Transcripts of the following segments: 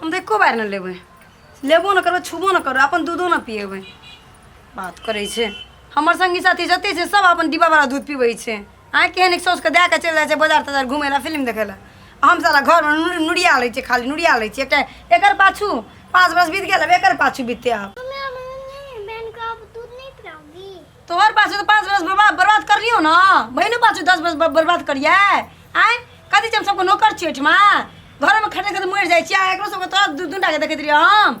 हम तऽ एको बार नहि लेबै लेबो नहि करबै छुबो नहि करबै अपन दूधो नहि पिएबै बात करै छै हमर सङ्गी साथी जतेक छै सब अपन डिब्बावला दूध पिबै छै आँय केहन सौसके दए कऽ चलि जाइ छै बजार तजार घुमै लए फिल्म देखै लए आ हम साला घरमे नु- नुरिया लै छियै खाली नुरिया लै छियै एकटा एकर पाछू पाँच बरस बीत गेल अब एकर पाछू बीतते आब मम्मी अब नहीं बहन को अब दूध नहीं पिलाऊंगी तोहर पाछू तो पाँच बरस बर्बाद बर्बाद कर लियो ना बहनो पाछू दस बरस बर- बर्बाद करिए आँय कथी छै हम सबके नौकर छियै ओहिठमा घरमे खटै खटै मरि जाइ छियै आ एकरो सबके तोरा दू दूटाके देखैत रहियै हम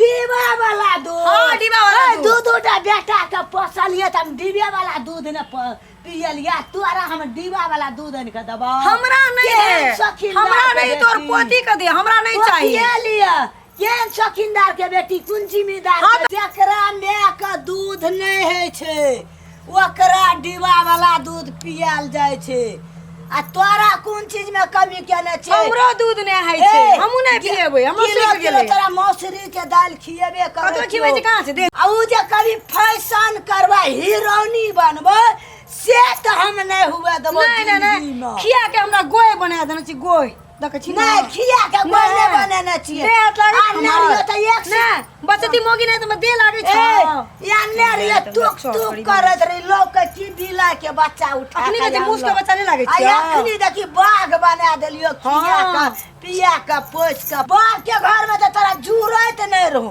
दीवा वाला दूध हाँ, दीवा वाला ए, दूध। दू दूटा बेटा के पोसलिए त हम दीवे वाला दूध ने प- पियलिया तोरा हम दीवा वाला दूध आनि के देबो हमरा नहीं केहन दे शौकीन हमरा दार के नहीं तोर बेटी। पोती के दे हमरा नहीं चाहिए पोसियलिए केहन शौकीनदार के बेटी कुन जिम्मेदार हाँ, के? जेकरा माय के दूध नहि होइ छै ओकरा डिब्बा वाला दूध पियाल जाय छै आ तोरा कोन चीज में कमी केने छै हमरो दूध नै है छै ए, हमहु नै कि- पिएबै हमहु किलो सीख किलो गेलै तोरा मौसरी के दाल खिएबे करे कतो खिबै छै कहाँ से दे आ उ जे कभी फैशन करबै हीरोनी बनबै से तऽ हम नै हुए देबो नै नै नै जिंदगी में। खिया के हमरा गोय बना देने छी गोय देखै छी ना नहीं खिया के गोले बनेने छिए दे हाथ लागै आ छै ना हमर। रियो त एक से ना बचती मोगी नहीं तो मैं दे लागै छ ए या ने रियो तुक तुक करत रही लोग के की दिला के बच्चा उठा अखनी के जे मुस के बच्चा नहीं लागै आ छ अखनी देखी बाघ बना देलियो खिया हाँ। के पिया के पोछ के बाप के घर में त तोरा जुरत नहीं रहू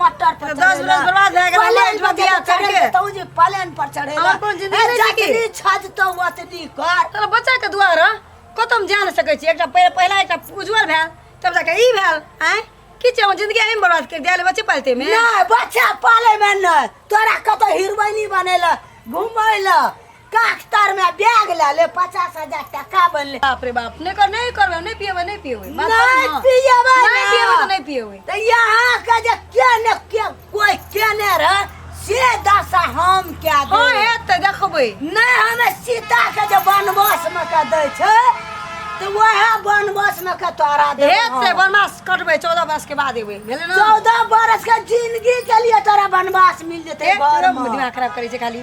मटर पर दस चढ़ेला। बरस बर्बाद भए गेल, पलेन पर बतिया जब चढ़ के। चढ़ेला, तौ जे पलेन पर चढ़ेला हमर कोन जिंदगी ए, नहि छै की? जतनी छज तो ओतनी कर तोरा बच्चा के दुआरा कतौ हम जा नहि सकै छी एकटा पहि- पहिला एकटा उज्जवल भेल तब जाके ई भेल आँय की छै हमर जिंदगी एहिमे बर्बाद करि दिया बच्चे पालते मे नहि बच्चा पाले में नहि तोरा कतौ हिरबैनी बनेला घुमैला काख्तर में बैग ले ले पचास हजार टका बनले बाप रे बाप नहीं कर नहीं करबे नहीं पिएबे नहीं पिएबे बात कर नहीं ना। पिएबे नहीं ना। पिएबे तो नहीं पिएबे तो यहाँ के जे के ने के कोई के ने रह से दशा हम के हाँ दे है तो देखबे नहीं हमें सीता के जे वनवास में के दे छे तो वह वनवास में के तोरा दे हे ते बनमास कटबे 14 वर्ष के बाद एबे भेले ना चौदह बरस के जिंदगी के लिए तोरा वनवास मिल जेते ए, तोरा घर में दिमाग खराब करे छै खाली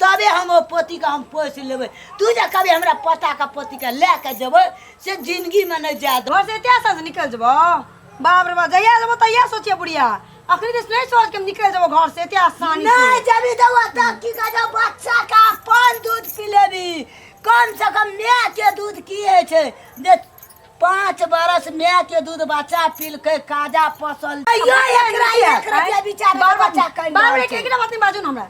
तबे हम ओ पोतीके हम पोसि लेबै तू जे कभी हमरा पोताके पोतीके लए कऽ जेबै से जिनगीमे नहि जाए देबै घर से एते आसान से निकल जेबो बाप रे बाप जहिया जेबो तहिया सोचिए बुढ़िया अखनी दिस नहीं सोच के हम निकल जेबो घर से एते आसानी नहीं से जबी देबो तब की कह जाओ बच्चा का अपन दूध पी लेबी कम से कम माय के दूध की है छै जे पाँच बरस माय के दूध बच्चा पीलकै काजा पसल यो एकरा एक रुपया बिचार बार बार बच्चा कहि बार बार रहल एक छै। एक बात नहीं बाजू ना हमरा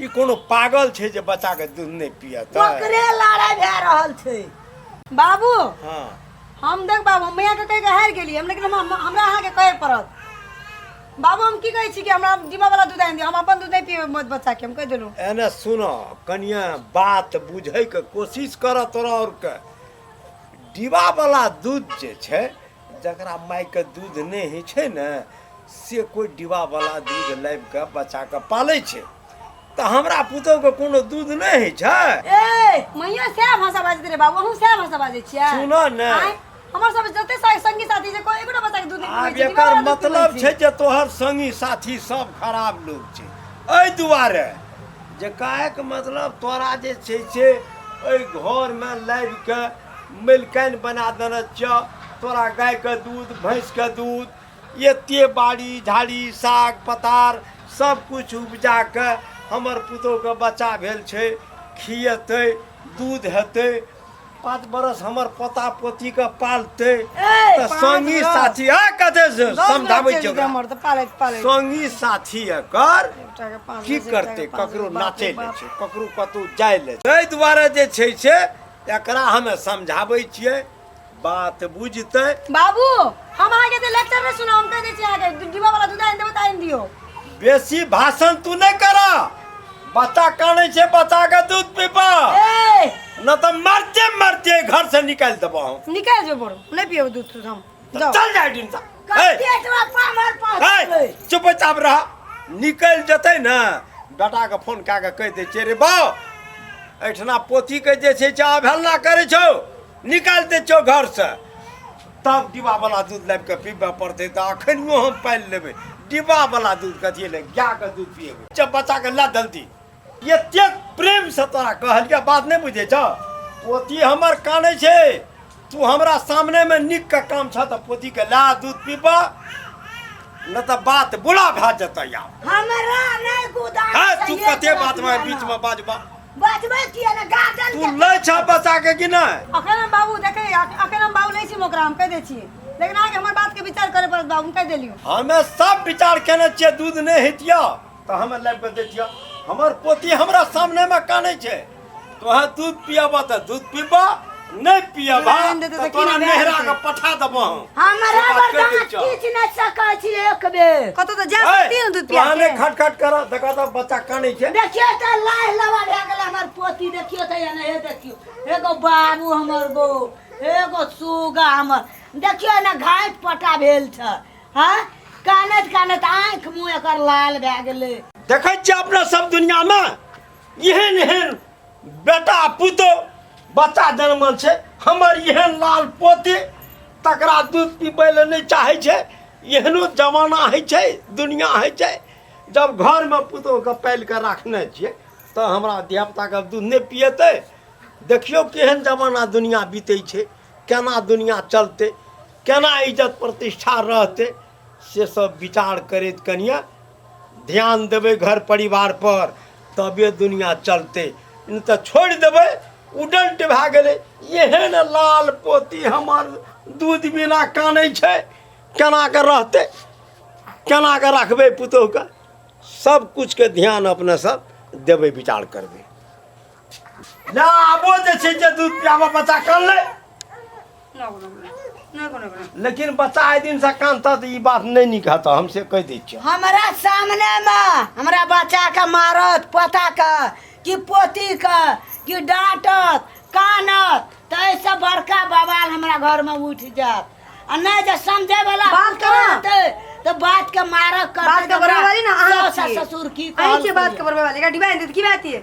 ई कोनो पागल छै जे बच्चा के दूध नहि पियत ओकरे लड़ाई भए रहल छै बाबू हाँ हम देख बाबू हम यहाँ के कहि के हारि गेली हम लेकिन हम- हमरा अहाँके कहे पड़त बाबू हम की कहै छी कि हमरा डिब्बा वाला दूध आनि दियौ हम अपन दूध नहि पियब मत बच्चा के हम कहि देलहुँ एने सुनो कनिया बात बुझै के कोशिश करऽ तोरा और के डिबा वाला दूध जे छै जकरा मायके दूध नहि होइ छै ने से कोइ डिब्बावला दूध लाबि कऽ बच्चाके पालै छै तऽ हमरा पुतौहके कोनो दूध नहि होइ छै ए मैया सएह भाषा बाजैत रहे बाबू अहूँ सएह भाषा बाजै छियै सुनऽ ने। आँय? हमर सब जते सा- संगी साथी छै कोई एकोटा बच्चा के दूध नहि आब पीबै छै, एकर डिब्बावला दूध पीबै मतलब छै जे तोहर संगी साथी सब खराब लोग छै एहि दुआरे जे काहेके मतलब तोरा जे छै से एहि घरमे लाबि कऽ मलिकाइन बना देने छियह तोरा गायके दूध भैंसके दूध एते बाड़ी झाड़ी साग पतार सब किछु उपजा कऽ हमर पुतोहके बच्चा भेल छै खिएतै दूध हेतै पाँच बरस हमर पोता पोतीके पालतै ए, तऽ पाँच संगी बरस। साथी आ कते से दस समझाबै बच्चे छियै छै ओकरा। हमर तऽ पालैत पालैत संगी साथी एकर एकटाके पाँच की बच्चे, करतै एकटाके पाँच ककरो बच्चे, नाचै बाप रे ले बाप। छै ककरो कतौ जाय ले छै। ताहि दुआरे जे छै से एकरा हमे समझाबै छियै बात बुझतै बाबू हम अहाँके तऽ लेक्चर नहि सुनब हम कहि दै छी अहाँके डिब्बा वाला दूध आनि देबै तऽ आनि दियौ बेसी भाषण तू नहि कर बच्चा कानै छै बच्चा के दूध पीबा ए न तऽ मरते मरते घर से निकालि देबो हम निकालि जो बोल नहि पियब दूध तूध हम तो चल जाए डिम सा चुप चाप रहा निकल जते ना बेटा के फोन कए के कह दे छे रे बाओ एठना पोती के जे छे चा भेलना करे छो निकाल दे छो घर से तब डिब्बा वाला दूध लाइब के पीबे पड़ते तो अखनियो हम पालि लेबे डिब्बा वाला दूध कथिए ले गाय के दूध पिएबे जब बच्चा के ला जल्दी एतेक प्रेम से तोरा कहलिया बात नहीं बुझे छ पोती हमर काने छे तू हमरा सामने में निक का काम छ त पोती के ला दूध पीबा न त बात बुला भा जत या हमरा नहीं गुदा हां तू कते बात में बीच में बाजबा बाजबा किया ना गार्डन तू ले छ बचा के कि नहीं अखन हम बाबू देखे अखन हम बाबू नहीं छी मोकरा हम कह दे छी लेकिन आगे हमर बात के विचार करे पर बाबू कह देलियो हमें सब विचार केने छे दूध नहीं हितिया तऽ हमे लाबि कऽ दैतिया हमर पोती हमरा सामनेमे कानै छै तोहे दूध पियाबह तऽ दूध पीबह नहि पियाबह नहि देतै तऽ तऽ की तोरा नहि नहिरा देतै? के पठा देबह हम हमरा से बात बरदान कहि दै छह। किछु नहि सकै छी एक बेर कतौ तऽ जा सकती ने दूध पिया तोहने के खट खट कर देखा तऽ बच्चा कानै छै देखियो तऽ लाह लवा भए गेल हमर पोती देखियो तऽ एने हे देखियो एगो बाबू हमर गो एगो सुगा हमर देखियो ने घाट पटा भेल छै हाँ कानत कानत आँख मुँह एकर लाल भए गेलै देखै छियै अपना सब दुनियामे एहन एहन बेटा पुतो बच्चा जन्मल छै हमर एहन लाल पोते तकरा दूध पीबै लए नहि चाहै छै एहनो जमाना होइ छै दुनिया होइ छै जब घरमे पुतोके पालि कऽ राखने छियै तऽ हमरा धियापुताके दूध नहि पिएतै देखियौ केहन जमाना दुनिया बीतै छै केना दुनिया चलतै केना इज्जत प्रतिष्ठा रहतै से सब विचार करैत कनिया ध्यान देबै घर परिवार पर तबे दुनिया चलतै नहि तऽ छोड़ि देबै उडल्ट भए गेलै एहन लाल पोती हमर दूध बिना कानै छै केना कऽ रहतै केना कऽ रखबै पुतोहके सब किछुके ध्यान अपने सब देबै विचार करबै ला आबो जे छै जे दूध पियाबऽ बच्चा कान ले ना कोनो कोनो ना कोनो कोनो लेकिन बच्चा आइ दिन से कान तऽ ई बात नहि नीक हेतऽ हम से कहि दै छियौ हमरा सामने मे हमरा बच्चा के मारत पोता के कि पोती के कि डांटत कानत त ऐसे बड़का बवाल हमरा घर में उठ जात आ नहीं जे समझे वाला बात पुत्र करा। रहतै, त बात के मारक कर बात के बराबरी ना अहाँ छियै। ससुर की अहीं कहल छियै बात के बरबे वाले का डिबा एंदे की बात ये